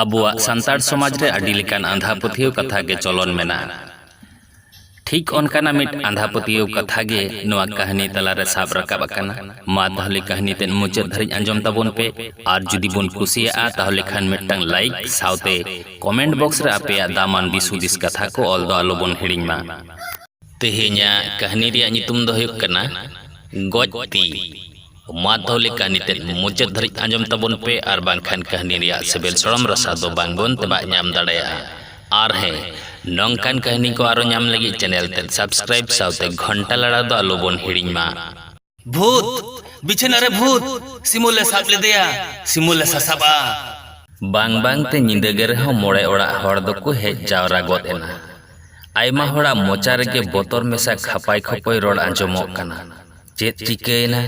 ᱟᱵᱚᱣᱟᱜ ᱥᱟᱱᱛᱟᱲ ᱥᱚᱢᱟᱡᱽ ᱨᱮ ᱟᱹᱰᱤ ᱞᱮᱠᱟᱱ ᱟᱸᱫᱷᱟ ᱯᱟᱹᱛᱭᱟᱹᱣ ᱠᱟᱛᱷᱟ ᱜᱮ ᱪᱚᱞᱚᱱ ᱢᱮᱱᱟᱜᱼᱟ ᱴᱷᱤᱠ ᱚᱱᱠᱟᱱᱟᱜ ᱢᱤᱫ ᱟᱸᱫᱷᱟ ᱯᱟᱹᱛᱭᱟᱹᱣ ᱠᱟᱛᱷᱟ ᱜᱮ ᱱᱚᱣᱟ ᱠᱟᱹᱦᱱᱤ ᱛᱟᱞᱟᱨᱮ ᱥᱟᱵ ᱨᱟᱠᱟᱵ ᱟᱠᱟᱱᱟ ᱢᱟ ᱛᱟᱦᱚᱞᱮ ᱠᱟᱹᱦᱱᱤ ᱛᱮᱫ ᱢᱩᱪᱟᱹᱫ ᱫᱷᱟᱹᱨᱤᱡ ᱟᱸᱡᱚᱢ ᱛᱟᱵᱚᱱ ᱯᱮ ᱟᱨ ᱡᱩᱫᱤ ᱵᱚᱱ ᱠᱩᱥᱤᱭᱟᱜᱼᱟ ᱛᱟᱦᱚᱞᱮ ᱠᱷᱟᱱ ᱢᱤᱫᱴᱟᱝ ᱞᱟᱭᱤᱠ ᱥᱟᱶᱛᱮ ᱠᱚᱢᱮᱱᱴ ᱵᱚᱠᱥ ᱨᱮ ᱟᱯᱮᱭᱟᱜ ᱫᱟᱢᱟᱱ ᱫᱤᱥ ᱦᱩᱫᱤᱥ ᱠᱟᱛᱷᱟ ᱠᱚ ᱚᱞ ᱫᱚ ᱟᱞᱚ ᱵᱚᱱ ᱦᱤᱲᱤᱧ ᱢᱟ ᱛᱮᱦᱮᱧᱟᱜ ᱠᱟᱹᱦᱱᱤ ᱨᱮᱭᱟᱜ ᱧᱩᱛᱩᱢ ᱫᱚ ᱦᱩᱭᱩᱜ ᱠᱟᱱᱟ ᱜᱚᱡ ᱛᱤ ᱢᱟᱫᱷᱚ ᱞᱮᱠᱟ ᱱᱤᱛᱮᱫ ᱢᱩᱪᱟᱹᱫ ᱫᱷᱟᱹᱨᱤᱡ ᱟᱸᱡᱚᱢ ᱛᱟᱵᱚᱱ ᱯᱮ ᱟᱨ ᱵᱟᱝᱠᱷᱟᱱ ᱠᱟᱹᱦᱱᱤ ᱨᱮᱭᱟᱜ ᱥᱤᱵᱤᱞ ᱥᱚᱲᱚᱢ ᱨᱟᱥᱟ ᱫᱚ ᱵᱟᱝᱵᱚᱱ ᱛᱮᱵᱟᱜ ᱧᱟᱢ ᱫᱟᱲᱮᱭᱟᱜᱼᱟ ᱟᱨ ᱦᱮᱸ ᱱᱚᱝᱠᱟᱱ ᱠᱟᱹᱦᱱᱤ ᱠᱚ ᱟᱨᱚ ᱧᱟᱢ ᱞᱟᱹᱜᱤᱫ ᱪᱮᱱᱮᱞ ᱛᱮᱫ ᱥᱟᱵᱥᱠᱨᱟᱭᱤᱵ ᱥᱟᱶᱛᱮ ᱜᱷᱚᱱᱴᱟ ᱞᱟᱲᱟᱣ ᱫᱚ ᱟᱞᱚᱵᱚᱱ ᱦᱤᱲᱤᱧ ᱢᱟ ᱵᱷᱩᱛ ᱵᱤᱪᱷᱟᱹᱱᱟ ᱨᱮ ᱵᱷᱩᱛ ᱥᱤᱢᱩ ᱞᱮ ᱥᱟᱵ ᱞᱮᱫᱮᱭᱟ ᱥᱤᱢᱩ ᱞᱮ ᱥᱟᱥᱟᱵᱼᱟ ᱵᱟᱝ ᱵᱟᱝ ᱛᱮ ᱧᱤᱫᱟᱹ ᱜᱮ ᱨᱮᱦᱚᱸ ᱢᱚᱬᱮ ᱚᱲᱟᱜ ᱦᱚᱲ ᱫᱚᱠᱚ ᱦᱮᱡ ᱡᱟᱣᱨᱟ ᱜᱚᱫ ᱮᱱᱟ ᱟᱭᱢᱟ ᱦᱚᱲᱟᱜ ᱢᱚᱪᱟ ᱨᱮᱜᱮ ᱵᱚᱛᱚᱨ ᱢᱮᱥᱟ ᱠᱷᱟᱯᱟᱭ ᱠᱷᱚᱯᱚᱭ ᱨᱚᱲ ᱟᱸᱡᱚᱢᱚᱜ ᱠᱟᱱᱟ ᱪᱮᱫ ᱪᱤᱠᱟᱹᱭᱮᱱᱟ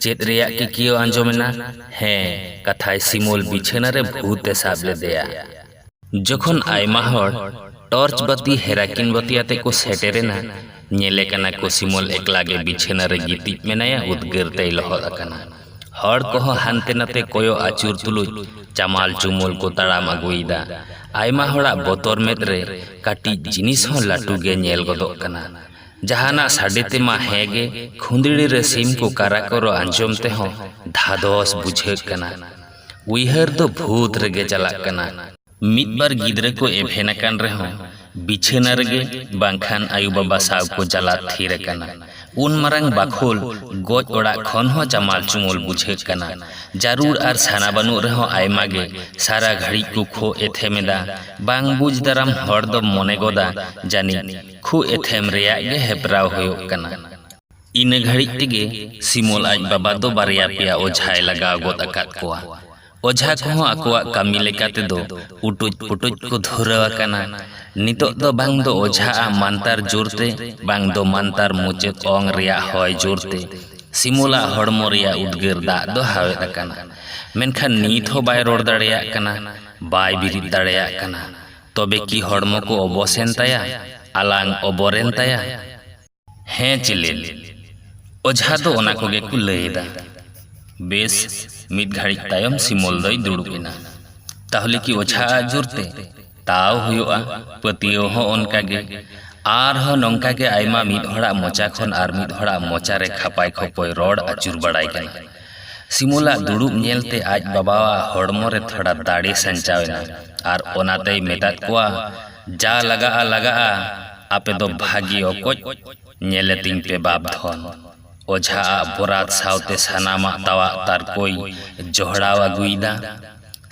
ᱪᱮᱫ ᱨᱮᱭᱟᱜ ᱠᱤᱠᱭᱟᱹᱣ ᱟᱸᱡᱚᱢᱮᱱᱟ ᱦᱮᱸ ᱠᱟᱛᱷᱟᱭ ᱥᱤᱢᱚᱞ ᱵᱤᱪᱷᱟᱹᱱᱟ ᱨᱮ ᱵᱷᱩᱛ ᱮ ᱥᱟᱵ ᱞᱮᱫᱮᱭᱟ ᱡᱚᱠᱷᱚᱱ ᱟᱭᱢᱟ ᱦᱚᱲ ᱴᱚᱨᱪ ᱵᱟᱹᱛᱤ ᱦᱮᱨᱟᱠᱤᱱ ᱵᱟᱹᱛᱤ ᱟᱛᱮ ᱠᱚ ᱥᱮᱴᱮᱨᱮᱱᱟ ᱧᱮᱞᱮ ᱠᱟᱱᱟ ᱠᱚ ᱥᱤᱢᱚᱞ ᱮᱠᱞᱟ ᱜᱮ ᱵᱤᱪᱷᱟᱹᱱᱟ ᱨᱮ ᱜᱤᱛᱤᱡ ᱢᱮᱱᱟᱭᱟ ᱩᱫᱽᱜᱟᱹᱨ ᱛᱮᱭ ᱞᱚᱦᱚᱫ ᱟᱠᱟᱱᱟ ᱦᱚᱲ ᱠᱚᱦᱚᱸ ᱦᱟᱱᱛᱮ ᱱᱟᱛᱮ ᱠᱚᱭᱚᱜ ᱟᱹᱪᱩᱨ ᱛᱩᱞᱩᱡ ᱪᱟᱢᱟᱞ ᱪᱩᱢᱩᱞ ᱠᱚ ᱛᱟᱲᱟᱢ ᱟᱹᱜᱩᱭᱮᱫᱟ ᱟᱭᱢᱟ ᱦᱚᱲᱟᱜ ᱵᱚᱛᱚᱨ ᱢᱮᱫ ᱨᱮ ᱠᱟᱹᱴᱤᱡ ᱡᱤᱱᱤᱥ ᱦᱚᱸ ᱞᱟᱹᱴᱩ ᱜᱮ ᱧᱮᱞ ᱜᱚᱫᱚᱜ ᱠᱟᱱᱟ ᱡᱟᱦᱟᱱᱟᱜ ᱥᱟᱰᱮ ᱛᱮᱢᱟ ᱦᱮᱸᱜᱮ ᱠᱷᱩᱸᱫᱽᱲᱤ ᱨᱮ ᱥᱤᱢ ᱠᱚ ᱠᱟᱨᱟ ᱠᱚᱨᱚ ᱟᱸᱡᱚᱢ ᱛᱮᱦᱚᱸ ᱫᱷᱟᱫᱚᱥ ᱵᱩᱡᱷᱟᱹᱜ ᱠᱟᱱᱟ᱾ ᱩᱭᱦᱟᱹᱨ ᱫᱚ ᱵᱷᱩᱛ ᱨᱮᱜᱮ ᱪᱟᱞᱟᱜ ᱠᱟᱱᱟ᱾ ᱢᱤᱫ ᱵᱟᱨ ᱜᱤᱫᱽᱨᱟᱹ ᱠᱚ ᱮᱵᱷᱮᱱ ᱟᱠᱟᱱ ᱨᱮᱦᱚᱸ ᱵᱤᱪᱷᱟᱹᱱᱟ ᱨᱮᱜᱮ ᱵᱟᱝᱠᱷᱟᱱ ᱟᱭᱳ ᱵᱟᱵᱟ ᱥᱟᱶ ᱠᱚ ᱪᱟᱞᱟᱜ ᱛᱷᱤᱨ ᱟᱠᱟᱱᱟ᱾ ᱩᱱ ᱢᱟᱨᱟᱝ ᱵᱟᱠᱷᱳᱞ ᱜᱚᱡ ᱚᱲᱟᱜ ᱠᱷᱚᱱ ᱦᱚᱸ ᱪᱟᱢᱟᱞ ᱪᱩᱢᱩᱞ ᱵᱩᱡᱷᱟᱹᱜ ᱠᱟᱱᱟ᱾ ᱡᱟᱹᱨᱩᱲ ᱟᱨ ᱥᱟᱱᱟ ᱵᱟᱹᱱᱩᱜ ᱨᱮᱦᱚᱸ ᱟᱭᱢᱟ ᱜᱮ ᱥᱟᱨᱟ ᱜᱷᱟᱹᱲᱤᱡ ᱠᱚ ᱠᱷᱳ ᱮᱛᱷᱮᱢ ᱮᱫᱟ᱾ ᱵᱟᱝ ᱵᱩᱡᱽ ᱫᱟᱨᱟᱢ ᱦᱚᱲ ᱫᱚᱢ ᱢᱚᱱᱮ ᱜᱚᱫᱟ ᱡᱟᱹᱱᱤᱡ᱾ ᱠᱷᱩ ᱮᱛᱷᱮᱢ ᱨᱮᱭᱟᱜ ᱜᱮ ᱦᱮᱯᱨᱟᱣ ᱦᱳᱭᱳᱜ ᱠᱟᱱᱟ᱾ ᱤᱱᱟᱹ ᱜᱷᱟᱹᱲᱤᱡ ᱛᱮᱜᱮ ᱥᱤᱢᱚᱞ ᱟᱡ ᱵᱟᱵᱟ ᱫᱚ ᱵᱟᱨᱭᱟ ᱯᱮᱭᱟ ᱚᱡᱷᱟᱭ ᱞᱟᱜᱟᱣ ᱜᱚᱫ ᱟᱠᱟᱫ ᱠᱚᱣᱟ᱾ ᱚᱡᱷᱟ ᱠᱚᱦᱚᱸ ᱟᱠᱚᱣᱟᱜ ᱠᱟᱹᱢᱤ ᱞᱮᱠᱟ ᱛᱮᱫᱚ ᱩᱴᱩᱡ ᱯᱩᱴᱩᱡ ᱠᱚ ᱫᱷᱩᱨᱟᱹᱣ ᱟᱠᱟᱱᱟ᱾ ᱱᱤᱛᱚᱜ ᱫᱚ ᱵᱟᱝ ᱫᱚ ᱚᱡᱷᱟ ᱟᱜ ᱢᱟᱱᱛᱟᱨ ᱡᱳᱨ ᱛᱮ ᱵᱟᱝ ᱫᱚ ᱢᱟᱱᱛᱟᱨ ᱢᱩᱪᱟᱹᱫ ᱚᱝ ᱨᱮᱭᱟᱜ ᱦᱚᱭ ᱡᱳᱨ ᱛᱮ ᱥᱤᱢᱚᱞ ᱟᱜ ᱦᱚᱲᱢᱚ ᱨᱮᱭᱟᱜ ᱩᱫᱽᱜᱟᱹᱨ ᱫᱟᱜ ᱫᱚ ᱦᱟᱣᱮᱫ ᱟᱠᱟᱱᱟ᱾ ᱢᱮᱱᱠᱷᱟᱱ ᱱᱤᱛ ᱦᱚᱸ ᱵᱟᱭ ᱨᱚᱲ ᱫᱟᱲᱮᱭᱟᱜ ᱠᱟᱱᱟ, ᱵᱟᱭ ᱵᱤᱨᱤᱫ ᱫᱟᱲᱮᱭᱟᱜ ᱠᱟᱱᱟ᱾ ᱛᱚᱵᱮ ᱠᱤ ᱦᱚᱲᱢᱚ ᱠᱚ ᱚᱵᱚᱥ ᱮᱱ ᱛᱟᱭᱟ? ᱟᱞᱟᱝ ᱚᱵᱚᱨ ᱮᱱ ᱛᱟᱭᱟ? ᱦᱮᱸ ᱪᱤᱞᱮᱱ᱾ ᱚᱡᱷᱟ ᱫᱚ ᱚᱱᱟ ᱠᱚᱜᱮ ᱠᱚ ᱞᱟᱹᱭ ᱮᱫᱟ᱾ ᱵᱮᱥ, ᱢᱤᱫ ᱜᱷᱟᱹᱲᱤᱡ ᱛᱟᱭᱚᱢ ᱥᱤᱢᱚᱞ ᱫᱚᱭ ᱫᱩᱲᱩᱵ ᱮᱱᱟ᱾ ᱛᱟᱦᱞᱮ ᱠᱤ ᱚᱡᱷᱟ ᱟᱜ ᱡᱳᱨ ᱛᱮ? ᱛᱟᱣ ᱦᱩᱭᱩᱜᱼᱟ, ᱯᱟᱹᱛᱭᱟᱹᱣ ᱦᱚᱸ ᱚᱱᱠᱟ ᱜᱮ᱾ ᱟᱨ ᱦᱚᱸ ᱱᱚᱝᱠᱟ ᱜᱮ ᱟᱭᱢᱟ ᱢᱤᱫ ᱦᱚᱲᱟᱜ ᱢᱚᱪᱟ ᱠᱷᱚᱱ ᱟᱨ ᱢᱤᱫ ᱦᱚᱲᱟᱜ ᱢᱚᱪᱟ ᱨᱮ ᱠᱷᱟᱯᱟᱭ ᱠᱷᱚᱯᱚᱭ ᱨᱚᱲ ᱟᱹᱪᱩᱨ ᱵᱟᱲᱟᱭ ᱠᱟᱱᱟ᱾ ᱥᱤᱢᱩᱞᱟᱜ ᱫᱩᱲᱩᱵ ᱧᱮᱞᱛᱮ ᱟᱡ ᱵᱟᱵᱟᱣᱟᱜ ᱦᱚᱲᱢᱚ ᱨᱮ ᱛᱷᱚᱲᱟ ᱫᱟᱲᱮ ᱥᱟᱧᱪᱟᱣ ᱮᱱᱟ ᱟᱨ ᱚᱱᱟᱛᱮᱭ ᱢᱮᱛᱟᱫ ᱠᱚᱣᱟ, ᱡᱟ ᱞᱟᱜᱟᱜᱼᱟ ᱞᱟᱜᱟᱜᱼᱟ, ᱟᱯᱮ ᱫᱚ ᱵᱷᱟᱹᱜᱤ ᱚᱠᱚᱡ ᱧᱮᱞᱮ ᱛᱤᱧ ᱯᱮ ᱵᱟᱯ ᱫᱷᱚᱱ᱾ ᱚᱡᱷᱟ ᱟᱜ ᱵᱚᱨᱟᱛ ᱥᱟᱶᱛᱮ ᱥᱟᱱᱟᱢᱟᱜ ᱛᱟᱣᱟᱜ ᱛᱟᱨ ᱠᱚᱭ ᱡᱚᱦᱲᱟᱣ ᱟᱹᱜᱩᱭᱮᱫᱟ᱾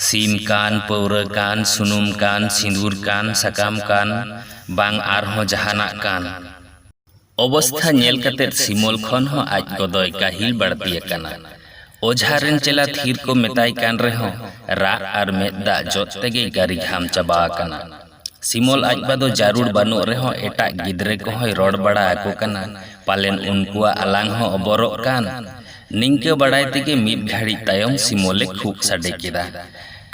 ᱥᱤᱢ ᱠᱟᱱ, ᱯᱟᱹᱣᱨᱟᱹ ᱠᱟᱱ, ᱥᱩᱱᱩᱢ ᱠᱟᱱ, ᱥᱤᱸᱫᱩᱨ ᱠᱟᱱ, ᱥᱟᱠᱟᱢ ᱠᱟᱱ, ᱵᱟᱝ ᱟᱨᱦᱚᱸ ᱡᱟᱦᱟᱱᱟᱜ ᱠᱟᱱ᱾ ᱚᱵᱚᱥᱛᱷᱟ ᱧᱮᱞ ᱠᱟᱛᱮ ᱥᱤᱢᱚᱞ ᱠᱷᱚᱱ ᱦᱚᱸ ᱟᱡ ᱜᱚᱫᱚᱭ ᱠᱟᱹᱦᱤᱞ ᱵᱟᱹᱲᱛᱤ ᱟᱠᱟᱱᱟ᱾ ᱚᱡᱷᱟ ᱨᱮᱱ ᱪᱮᱞᱟ ᱛᱷᱤᱨ ᱠᱚ ᱢᱮᱛᱟᱭ ᱠᱟᱱ ᱨᱮᱦᱚᱸ ᱨᱟᱜ ᱟᱨ ᱢᱮᱫ ᱫᱟᱜ ᱡᱚᱫ ᱛᱮᱜᱮᱭ ᱜᱟᱹᱨᱤ ᱜᱷᱟᱢ ᱪᱟᱵᱟ ᱟᱠᱟᱱᱟ᱾ ᱥᱤᱢᱚᱞ ᱟᱡ ᱵᱟ ᱫᱚ ᱡᱟᱹᱨᱩᱲ ᱵᱟᱹᱱᱩᱜ ᱨᱮᱦᱚᱸ ᱮᱴᱟᱜ ᱜᱤᱫᱽᱨᱟᱹ ᱠᱚᱦᱚᱸᱭ ᱨᱚᱲ ᱵᱟᱲᱟ ᱟᱠᱚ ᱠᱟᱱᱟ ᱯᱟᱞᱮᱱ ᱩᱱᱠᱩᱣᱟᱜ ᱟᱞᱟᱝ ᱦᱚᱸ ᱚᱵᱚᱨᱚᱜ ᱠᱟᱱ᱾ ᱱᱤᱝᱠᱟᱹ ᱵᱟᱲᱟᱭ ᱛᱮᱜᱮ ᱢᱤᱫ ᱜᱷᱟᱹᱲᱤᱡ ᱛᱟᱭᱚᱢ ᱥᱤᱢᱚᱞᱮ ᱠᱷᱩᱜ ᱥᱟᱰᱮ ᱠᱮᱫᱟ᱾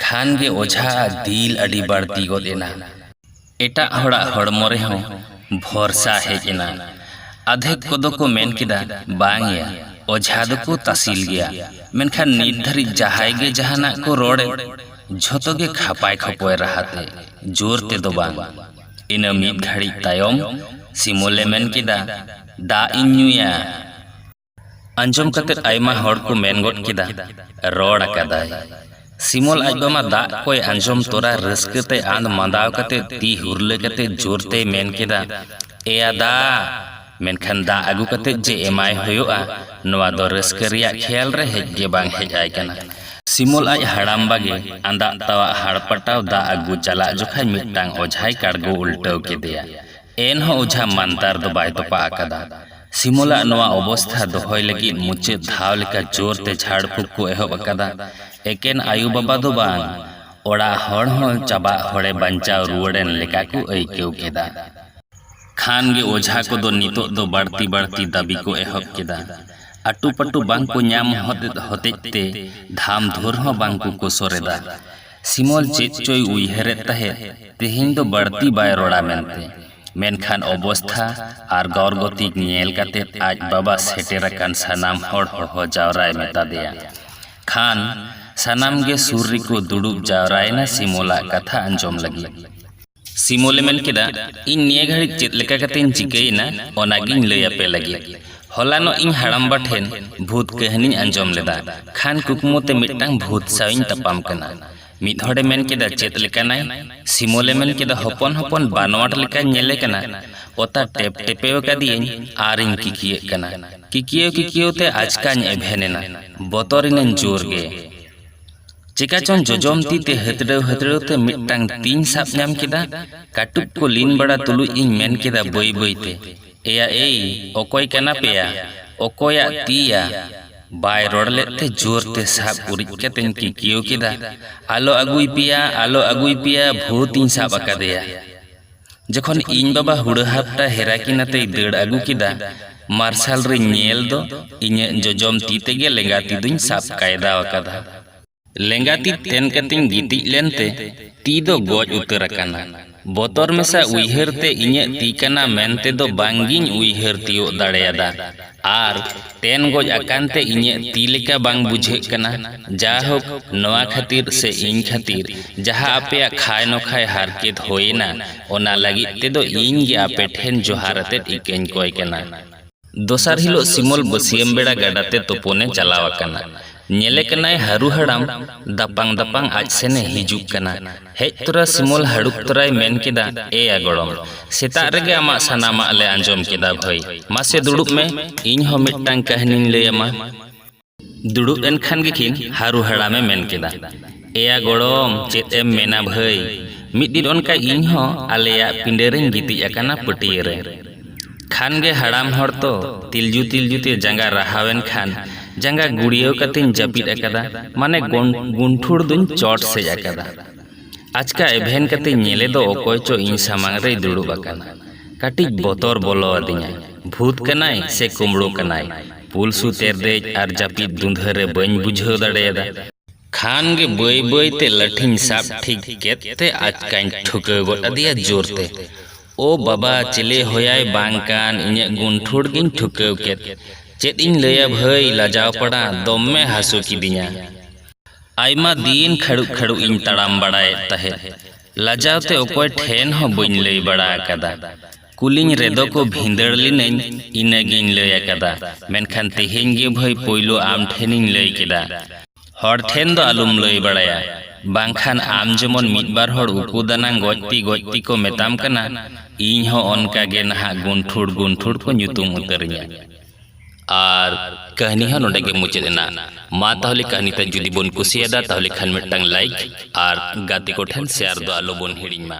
ᱠᱷᱟᱱ ᱜᱮ ᱚᱡᱷᱟ ᱟᱜ ᱫᱤᱞ ᱟᱹᱰᱤ ᱵᱟᱹᱲᱛᱤ ᱜᱚᱫ ᱮᱱᱟ᱾ ᱮᱴᱟᱜ ᱦᱚᱲᱟᱜ ᱦᱚᱲᱢᱚ ᱨᱮᱦᱚᱸ ᱵᱷᱚᱨᱥᱟ ᱦᱮᱡ ᱮᱱᱟ᱾ ᱟᱫᱷᱮᱠ ᱠᱚᱫᱚ ᱠᱚ ᱢᱮᱱ ᱠᱮᱫᱟ, ᱵᱟᱝ ᱭᱟ, ᱚᱡᱷᱟ ᱫᱚᱠᱚ ᱛᱟᱥᱤᱞ ᱜᱮᱭᱟ᱾ ᱢᱮᱱᱠᱷᱟᱱ ᱱᱤᱛ ᱫᱷᱟᱹᱨᱤᱡ ᱡᱟᱦᱟᱸᱭ ᱜᱮ ᱡᱟᱦᱟᱱᱟᱜ ᱠᱚ ᱨᱚᱲ ᱮᱫ, ᱡᱷᱚᱛᱚ ᱜᱮ ᱠᱷᱟᱯᱟᱭ ᱠᱷᱚᱯᱚᱭ ᱨᱟᱦᱟ ᱛᱮ, ᱡᱳᱨ ᱛᱮ ᱫᱚ ᱵᱟᱝ᱾ ᱤᱱᱟᱹ ᱢᱤᱫ ᱜᱷᱟᱹᱲᱤᱡ ᱛᱟᱭᱚᱢ ᱥᱤᱢᱚᱞ ᱮ ᱢᱮᱱ ᱠᱮᱫᱟ, ᱫᱟᱜ ᱤᱧ ᱧᱩᱭᱟ᱾ ᱟᱸᱡᱚᱢ ᱠᱟᱛᱮ ᱟᱭᱢᱟ ᱦᱚᱲ ᱠᱚ ᱢᱮᱱ ᱜᱚᱫ ᱠᱮᱫᱟ, ᱨᱚᱲ ᱟᱠᱟᱫᱟᱭ᱾ ᱥᱤᱢᱚᱞ ᱟᱡ ᱵᱟᱢᱟ ᱫᱟᱜ ᱠᱚᱭ ᱟᱸᱡᱚᱢ ᱛᱚᱨᱟ ᱨᱟᱹᱥᱠᱟᱹ ᱛᱮ ᱟᱸᱫᱽ ᱢᱟᱸᱫᱟᱣ ᱠᱟᱛᱮ ᱛᱤ ᱦᱩᱨᱞᱟᱹ ᱠᱟᱛᱮ ᱡᱳᱨ ᱛᱮᱭ ᱢᱮᱱ ᱠᱮᱫᱟ, ᱮᱭᱟ ᱫᱟᱜ! ᱢᱮᱱᱠᱷᱟᱱ ᱫᱟᱜ ᱟᱹᱜᱩ ᱠᱟᱛᱮ ᱡᱮ ᱮᱢᱟᱭ ᱦᱳᱭᱳᱜᱼᱟ ᱱᱚᱶᱟ ᱫᱚ ᱨᱟᱹᱥᱠᱟᱹ ᱨᱮᱭᱟᱜ ᱠᱷᱮᱭᱟᱞ ᱨᱮ ᱦᱮᱡ ᱜᱮ ᱵᱟᱝ ᱦᱮᱡ ᱟᱭ ᱠᱟᱱᱟ᱾ ᱥᱤᱢᱚᱞ ᱟᱡ ᱦᱟᱲᱟᱢᱵᱟ ᱜᱮ ᱟᱸᱫᱟᱜ ᱛᱟᱣᱟᱜ ᱦᱟᱲᱯᱟᱴᱟᱣ ᱫᱟᱜ ᱟᱹᱜᱩ ᱪᱟᱞᱟᱜ ᱡᱚᱠᱷᱟᱡ ᱢᱤᱫᱴᱟᱝ ᱚᱡᱷᱟᱭ ᱠᱟᱲᱜᱳ ᱩᱞᱴᱟᱹᱣ ᱠᱮᱫᱮᱭᱟ᱾ ᱮᱱᱦᱚᱸ ᱚᱡᱷᱟ ᱢᱟᱱᱛᱟᱨ ᱫᱚ ᱵᱟᱭ ᱛᱚᱯᱟᱜ ᱟᱠᱟᱫᱟ᱾ ᱥᱤᱢᱚᱞ ᱟᱜ ᱱᱚᱶᱟ ᱚᱵᱚᱥᱛᱷᱟ ᱫᱚᱦᱚᱭ ᱞᱟᱹᱜᱤᱫ ᱢᱩᱪᱟᱹᱫ ᱫᱷᱟᱣ ᱞᱮᱠᱟ ᱡᱳᱨ ᱛᱮ ᱡᱷᱟᱲ ᱯᱷᱩᱠ ᱠᱚ ᱮᱦᱚᱵ ᱟᱠᱟᱫᱟ᱾ ᱮᱠᱮᱱ ᱟᱭᱳ ᱵᱟᱵᱟ ᱫᱚ ᱵᱟᱝ, ᱚᱲᱟᱜ ᱦᱚᱲ ᱦᱚᱸ ᱪᱟᱵᱟᱜ ᱦᱚᱲᱮ ᱵᱟᱧᱪᱟᱣ ᱨᱩᱣᱟᱹᱲ ᱮᱱ ᱞᱮᱠᱟ ᱠᱚ ᱟᱹᱭᱠᱟᱹᱣ ᱠᱮᱫᱟ᱾ ᱠᱷᱟᱱ ᱜᱮ ᱚᱡᱷᱟ ᱠᱚᱫᱚ ᱱᱤᱛᱚᱜ ᱫᱚ ᱵᱟᱹᱲᱛᱤ ᱵᱟᱹᱲᱛᱤ ᱫᱟᱹᱵᱤ ᱠᱚ ᱮᱦᱚᱵ ᱠᱮᱫᱟ᱾ ᱟᱹᱴᱩ ᱯᱟᱹᱴᱩ ᱵᱟᱝ ᱠᱚ ᱧᱟᱢ ᱦᱚᱛᱮᱫ ᱦᱚᱛᱮᱡ ᱛᱮ ᱫᱷᱟᱢ ᱫᱷᱩᱨ ᱦᱚᱸ ᱵᱟᱝ ᱠᱚ ᱠᱚᱥᱚᱨ ᱮᱫᱟ᱾ ᱥᱤᱢᱚᱞ ᱪᱮᱫ ᱪᱚᱭ ᱩᱭᱦᱟᱹᱨᱮᱫ ᱛᱟᱦᱮᱸᱫ ᱛᱮᱦᱮᱧ ᱫᱚ ᱵᱟᱹᱲᱛᱤ ᱵᱟᱭ ᱨᱚᱲᱟ ᱢᱮᱱᱛᱮ᱾ ᱢᱮᱱᱠᱷᱟᱱ ᱚᱵᱚᱥᱛᱷᱟ ᱟᱨ ᱜᱚᱨᱜᱚᱛᱤᱠ ᱧᱮᱞ ᱠᱟᱛᱮ ᱟᱡ ᱵᱟᱵᱟ ᱥᱮᱴᱮᱨ ᱟᱠᱟᱱ ᱥᱟᱱᱟᱢ ᱦᱚᱲ ᱦᱚᱦᱚ ᱡᱟᱣᱨᱟᱭ ᱢᱮᱛᱟᱫᱮᱭᱟ᱾ ᱠᱷᱟᱱ ᱥᱟᱱᱟᱢ ᱜᱮ ᱥᱩᱨ ᱨᱮᱠᱚ ᱫᱩᱲᱩᱵ ᱡᱟᱣᱨᱟᱭᱮᱱᱟ ᱥᱤᱢᱚᱞᱟᱜ ᱠᱟᱛᱷᱟ ᱟᱸᱡᱚᱢ ᱞᱟᱹᱜᱤᱫ᱾ ᱥᱤᱢᱚᱞᱮ ᱢᱮᱱ ᱠᱮᱫᱟ, ᱤᱧ ᱱᱤᱭᱟᱹ ᱜᱷᱟᱹᱲᱤᱡ ᱪᱮᱫ ᱞᱮᱠᱟ ᱠᱟᱛᱮᱧ ᱪᱤᱠᱟᱹᱭᱮᱱᱟ ᱚᱱᱟ ᱜᱮᱧ ᱞᱟᱹᱭ ᱟᱯᱮ ᱞᱟᱹᱜᱤᱫ᱾ ᱦᱚᱞᱟᱱᱚᱜ ᱤᱧ ᱦᱟᱲᱟᱢᱵᱟ ᱴᱷᱮᱱ ᱵᱷᱩᱛ ᱠᱟᱹᱦᱱᱤᱧ ᱟᱸᱡᱚᱢ ᱞᱮᱫᱟ᱾ ᱠᱷᱟᱱ ᱠᱩᱠᱢᱩ ᱛᱮ ᱢᱤᱫᱴᱟᱝ ᱵᱷᱩᱛ ᱥᱟᱶ ᱤᱧ ᱛᱟᱯᱟᱢ ᱠᱟᱱᱟ᱾ ᱢᱤᱫ ᱦᱚᱲᱮ ᱢᱮᱱ ᱠᱮᱫᱟ ᱪᱮᱫ ᱞᱮᱠᱟᱱᱟᱭ? ᱥᱤᱢᱚᱞᱮ ᱢᱮᱱ ᱠᱮᱫᱟ ᱦᱚᱯᱚᱱ ᱦᱚᱯᱚᱱ ᱵᱟᱱᱣᱟᱴ ᱞᱮᱠᱟᱧ ᱧᱮᱞᱮ ᱠᱟᱱᱟ᱾ ᱚᱛᱟ ᱴᱮᱯ ᱴᱮᱯᱮᱣ ᱟᱠᱟᱫᱮᱭᱟᱹᱧ ᱟᱨ ᱤᱧ ᱠᱤᱠᱤᱭᱟᱹᱜ ᱠᱟᱱᱟ᱾ ᱠᱤᱠᱤᱭᱟᱹᱣ ᱠᱤᱠᱤᱭᱟᱹᱣ ᱛᱮ ᱟᱪᱠᱟᱧ ᱮᱵᱷᱮᱱ ᱮᱱᱟ᱾ ᱵᱚᱛᱚᱨ ᱤᱱᱟᱹᱧ ᱡᱳᱨ ᱜᱮ᱾ ᱪᱮᱠᱟ ᱪᱚᱝ ᱡᱚᱡᱚᱢ ᱛᱤ ᱛᱮ ᱦᱟᱹᱛᱲᱟᱹᱣ ᱦᱟᱹᱛᱲᱟᱹᱣ ᱛᱮ ᱢᱤᱫᱴᱟᱝ ᱛᱤᱧ ᱥᱟᱵ ᱧᱟᱢ ᱠᱮᱫᱟ᱾ ᱠᱟᱹᱴᱩᱵ ᱠᱚ ᱞᱤᱱ ᱵᱟᱲᱟ ᱛᱩᱞᱩᱡ ᱤᱧ ᱢᱮᱱ ᱠᱮᱫᱟ ᱵᱟᱹᱭ ᱵᱟᱹᱭ ᱛᱮ, ᱮᱭᱟ ᱮᱭ, ᱚᱠᱚᱭ ᱠᱟᱱᱟ ᱯᱮ ᱭᱟ? ᱚᱠᱚᱭᱟᱜ ᱛᱤ ᱭᱟ? ᱵᱟᱭ ᱨᱚᱲ ᱞᱮᱫ ᱛᱮ ᱡᱳᱨ ᱛᱮ ᱥᱟᱵ ᱩᱨᱤᱡ ᱠᱟᱛᱮᱧ ᱠᱤᱠᱭᱟᱹᱣ ᱠᱮᱫᱟ, ᱟᱞᱚ ᱟᱹᱜᱩᱭ ᱯᱮᱭᱟ, ᱟᱞᱚ ᱟᱹᱜᱩᱭ ᱯᱮᱭᱟ, ᱵᱷᱩᱛ ᱤᱧ ᱥᱟᱵ ᱟᱠᱟᱫᱮᱭᱟ᱾ ᱡᱚᱠᱷᱚᱱ ᱤᱧ ᱵᱟᱵᱟ ᱦᱩᱲᱟᱹ ᱦᱟᱯᱴᱟ ᱦᱮᱨᱟ ᱠᱤᱱ ᱟᱛᱮᱭ ᱫᱟᱹᱲ ᱟᱹᱜᱩ ᱠᱮᱫᱟ ᱢᱟᱨᱥᱟᱞ ᱨᱮᱧ ᱧᱮᱞ ᱫᱚ ᱤᱧᱟᱹᱜ ᱡᱚᱡᱚᱢ ᱛᱤ ᱛᱮᱜᱮ ᱞᱮᱸᱜᱟ ᱛᱤ ᱫᱚᱧ ᱥᱟᱵ ᱠᱟᱭᱫᱟ ᱟᱠᱟᱫᱟ᱾ ᱞᱮᱸᱜᱟ ᱛᱤ ᱛᱮᱱ ᱠᱟᱛᱮᱧ ᱜᱤᱛᱤᱡ ᱞᱮᱱ ᱛᱮ ᱛᱤ ᱫᱚ ᱜᱚᱡ ᱩᱛᱟᱹᱨ ᱟᱠᱟᱱᱟ᱾ ᱵᱚᱛᱚᱨ ᱢᱮᱥᱟ ᱩᱭᱦᱟᱹᱨ ᱛᱮ ᱤᱧᱟᱹᱜ ᱛᱤ ᱠᱟᱱᱟ ᱢᱮᱱ ᱛᱮ ᱫᱚ ᱵᱟᱝ ᱜᱤᱧ ᱩᱭᱦᱟᱹᱨ ᱛᱤᱭᱳᱜ ᱫᱟᱲᱮᱭᱟᱫᱟ᱾ ᱟᱨ ᱛᱮᱱ ᱜᱚᱡ ᱟᱠᱟᱱ ᱛᱮ ᱤᱧᱟᱹᱜ ᱛᱤ ᱞᱮᱠᱟ ᱵᱟᱝ ᱵᱩᱡᱷᱟᱹᱜ ᱠᱟᱱᱟ᱾ ᱡᱟᱭᱦᱳᱠ, ᱱᱚᱶᱟ ᱠᱷᱟᱹᱛᱤᱨ ᱥᱮ ᱤᱧ ᱠᱷᱟᱹᱛᱤᱨ ᱡᱟᱦᱟᱸ ᱟᱯᱮᱭᱟᱜ ᱠᱷᱟᱭ ᱱᱚᱠᱷᱟᱭ ᱦᱟᱨᱠᱮᱛ ᱦᱳᱭ ᱮᱱᱟ, ᱚᱱᱟ ᱞᱟᱹᱜᱤᱫ ᱛᱮ ᱫᱚ ᱤᱧ ᱜᱮ ᱟᱯᱮ ᱴᱷᱮᱱ ᱡᱚᱦᱟᱨ ᱟᱛᱮᱫ ᱤᱠᱟᱹᱧ ᱠᱚᱭ ᱠᱟᱱᱟ᱾ ᱫᱚᱥᱟᱨ ᱦᱤᱞᱚᱜ ᱥᱤᱢᱚᱞ ᱵᱟᱹᱥᱭᱟᱹᱢ ᱵᱮᱲᱟ ᱜᱟᱰᱟ ᱛᱮ ᱛᱳᱯᱳᱱ ᱮ ᱪᱟᱞᱟᱣ ᱟᱠᱟᱱᱟ᱾ ᱧᱮᱞᱮ ᱠᱟᱱᱟᱭ ᱦᱟᱹᱨᱩ ᱦᱟᱲᱟᱢ ᱫᱟᱯᱟᱝ ᱫᱟᱯᱟᱝ ᱟᱡ ᱥᱮᱱ ᱮ ᱦᱤᱡᱩᱜ ᱠᱟᱱᱟ᱾ ᱦᱮᱡ ᱛᱚᱨᱟ ᱥᱤᱢᱚᱞ ᱦᱟᱹᱲᱩᱵ ᱛᱚᱨᱟᱭ ᱢᱮᱱ ᱠᱮᱫᱟ, ᱮ ᱭᱟ ᱜᱚᱲᱚᱢ, ᱥᱮᱛᱟᱜ ᱨᱮᱜᱮ ᱟᱢᱟᱜ ᱥᱟᱱᱟᱢᱟᱜ ᱞᱮ ᱟᱸᱡᱚᱢ ᱠᱮᱫᱟ ᱵᱷᱟᱹᱭ᱾ ᱢᱟᱥᱮ ᱫᱩᱲᱩᱵ ᱢᱮ, ᱤᱧ ᱦᱚᱸ ᱢᱤᱫᱴᱟᱹᱝ ᱠᱟᱹᱦᱱᱤᱧ ᱞᱟᱹᱭ ᱟᱢᱟ᱾ ᱫᱩᱲᱩᱵ ᱮᱱ ᱠᱷᱟᱱ ᱜᱮᱠᱤᱱ ᱦᱟᱹᱨᱩ ᱦᱟᱲᱟᱢ ᱮ ᱢᱮᱱ ᱠᱮᱫᱟ᱾ ᱮᱭᱟ ᱜᱚᱲᱚᱢ ᱪᱮᱫ ᱮᱢ ᱢᱮᱱᱟ ᱵᱷᱟᱹᱭ ᱢᱤᱫ ᱫᱤᱱ ᱚᱱᱠᱟ ᱤᱧ ᱦᱚᱸ ᱟᱞᱮᱭᱟᱜ ᱯᱤᱸᱰᱟᱹ ᱨᱮᱧ ᱜᱤᱛᱤᱡ ᱟᱠᱟᱱᱟ ᱯᱟᱹᱴᱭᱟᱹ ᱨᱮ ᱠᱷᱟᱱ ᱜᱮ ᱦᱟᱲᱟᱢ ᱦᱚᱲ ᱛᱚ ᱛᱤᱞᱡᱩ ᱛᱤᱞᱡᱩ ᱛᱮ ᱡᱟᱸᱜᱟ ᱨᱟᱦᱟᱣ ᱮᱱ ᱠᱷᱟᱱ ᱡᱟᱸᱜᱟ ᱜᱩᱲᱭᱟᱹᱣ ᱠᱟᱛᱮᱧ ᱡᱟᱹᱯᱤᱫ ᱟᱠᱟᱫᱟ ᱢᱟᱱᱮ ᱜᱩᱱᱴᱷᱩᱲ ᱫᱩᱧ ᱪᱚᱴ ᱥᱮᱡ ᱟᱠᱟᱫᱟ ᱟᱪᱠᱟ ᱮᱵᱷᱮᱱ ᱠᱟᱛᱮᱧ ᱧᱮᱞᱮ ᱫᱚ ᱚᱠᱚᱭ ᱪᱚ ᱤᱧ ᱥᱟᱢᱟᱝ ᱨᱮᱭ ᱫᱩᱲᱩᱵ ᱟᱠᱟᱱᱟ ᱠᱟᱹᱴᱤᱡ ᱵᱚᱛᱚᱨ ᱵᱚᱞᱚ ᱟᱹᱫᱤᱧᱟ ᱵᱷᱩᱛ ᱠᱟᱱᱟᱭ ᱥᱮ ᱠᱩᱢᱲᱩ ᱠᱟᱱᱟᱭ ᱯᱩᱞᱥᱩ ᱛᱮᱨᱫᱮᱡ ᱟᱨ ᱡᱟᱹᱯᱤᱫ ᱫᱩᱸᱫᱷᱟᱹ ᱨᱮ ᱵᱟᱹᱧ ᱵᱩᱡᱷᱟᱹᱣ ᱫᱟᱲᱮᱭᱟᱫᱟ ᱠᱷᱟᱱ ᱜᱮ ᱵᱟᱹᱭ ᱵᱟᱹᱭ ᱛᱮ ᱞᱟᱹᱴᱷᱤᱧ ᱥᱟᱵ ᱴᱷᱤᱠ ᱠᱮᱫ ᱛᱮ ᱟᱪᱠᱟᱧ ᱴᱷᱩᱠᱟᱹᱣ ᱜᱚᱫ ᱟᱫᱮᱭᱟ ᱡᱳᱨ ᱛᱮ᱾ ᱳ ᱵᱟᱵᱟ ᱪᱮᱞᱮ ᱦᱳᱭᱟᱭ ᱵᱟᱝ ᱠᱟᱱ ᱤᱧᱟᱹᱜ ᱜᱩᱱᱴᱷᱩᱲ ᱜᱮᱧ ᱴᱷᱩᱠᱟᱹᱣ ᱠᱮᱫ᱾ ᱪᱮᱫ ᱤᱧ ᱞᱟᱹᱭᱟ ᱵᱷᱟᱹᱭ ᱞᱟᱡᱟᱣ ᱯᱟᱲᱟ ᱫᱚᱢᱢᱮ ᱦᱟᱹᱥᱩ ᱠᱤᱫᱤᱧᱟ᱾ ᱟᱭᱢᱟ ᱫᱤᱱ ᱠᱷᱟᱹᱲᱩᱜ ᱠᱷᱟᱹᱲᱩᱜ ᱤᱧ ᱛᱟᱲᱟᱢ ᱵᱟᱲᱟᱭᱮᱫ ᱛᱟᱦᱮᱸᱫ᱾ ᱞᱟᱡᱟᱣ ᱛᱮ ᱚᱠᱚᱭ ᱴᱷᱮᱱ ᱦᱚᱸ ᱵᱟᱹᱧ ᱞᱟᱹᱭ ᱵᱟᱲᱟ ᱟᱠᱟᱫᱟ᱾ ᱠᱩᱞᱤᱧ ᱨᱮᱫᱚ ᱠᱚ ᱵᱷᱤᱸᱫᱟᱹᱲ ᱞᱤᱱᱟᱹᱧ ᱤᱱᱟᱹ ᱜᱮᱧ ᱞᱟᱹᱭ ᱟᱠᱟᱫᱟ ᱢᱮᱱᱠᱷᱟᱱ ᱛᱮᱦᱮᱧ ᱜᱮ ᱵᱷᱟᱹᱭ ᱯᱳᱭᱞᱳ ᱟᱢ ᱴᱷᱮᱱᱤᱧ ᱞᱟᱹᱭ ᱠᱮᱫᱟ ᱦᱚᱲ ᱴᱷᱮᱱ ᱫᱚ ᱟᱞᱚᱢ ᱞᱟᱹᱭ ᱵᱟᱲᱟᱭᱟ ᱵᱟᱝᱠᱷᱟᱱ ᱟᱢ ᱡᱮᱢᱚᱱ ᱢᱤᱫ ᱵᱟᱨ ᱦᱚᱲ ᱩᱠᱩ ᱫᱟᱱᱟᱝ ᱜᱚᱡ ᱛᱤ ᱜᱚᱡ ᱛᱤ ᱠᱚ ᱢᱮᱛᱟᱢ ᱠᱟᱱᱟ ᱤᱧ ᱦᱚᱸ ᱚᱱᱠᱟ ᱜᱮ ᱱᱟᱦᱟᱜ ᱜᱩᱱᱴᱷᱩᱲ ᱜᱩᱱᱴᱷᱩᱲ ᱠᱚ ᱧᱩᱛᱩᱢ ᱩᱛᱟᱹᱨᱤᱧᱟ ᱟᱨ ᱠᱟᱹᱦᱱᱤ ᱦᱚᱸ ᱱᱚᱰᱮ ᱜᱮ ᱢᱩᱪᱟᱹᱫ ᱮᱱᱟ ᱢᱟ ᱛᱟᱦᱚᱞᱮ ᱠᱟᱹᱦᱱᱤ ᱛᱮ ᱡᱩᱫᱤ ᱵᱚᱱ ᱠᱩᱥᱤᱭᱟᱫᱟ ᱛᱟᱦᱚᱞᱮ ᱠᱷᱟᱱ ᱢᱤᱫᱴᱟᱝ ᱞᱟᱭᱤᱠ ᱟᱨ ᱜᱟᱛᱮ ᱠᱚᱴᱷᱮᱱ ᱥᱮᱭᱟᱨ ᱫᱚ ᱟᱞᱚ ᱵᱚᱱ ᱦᱤᱲᱤᱧ ᱢᱟ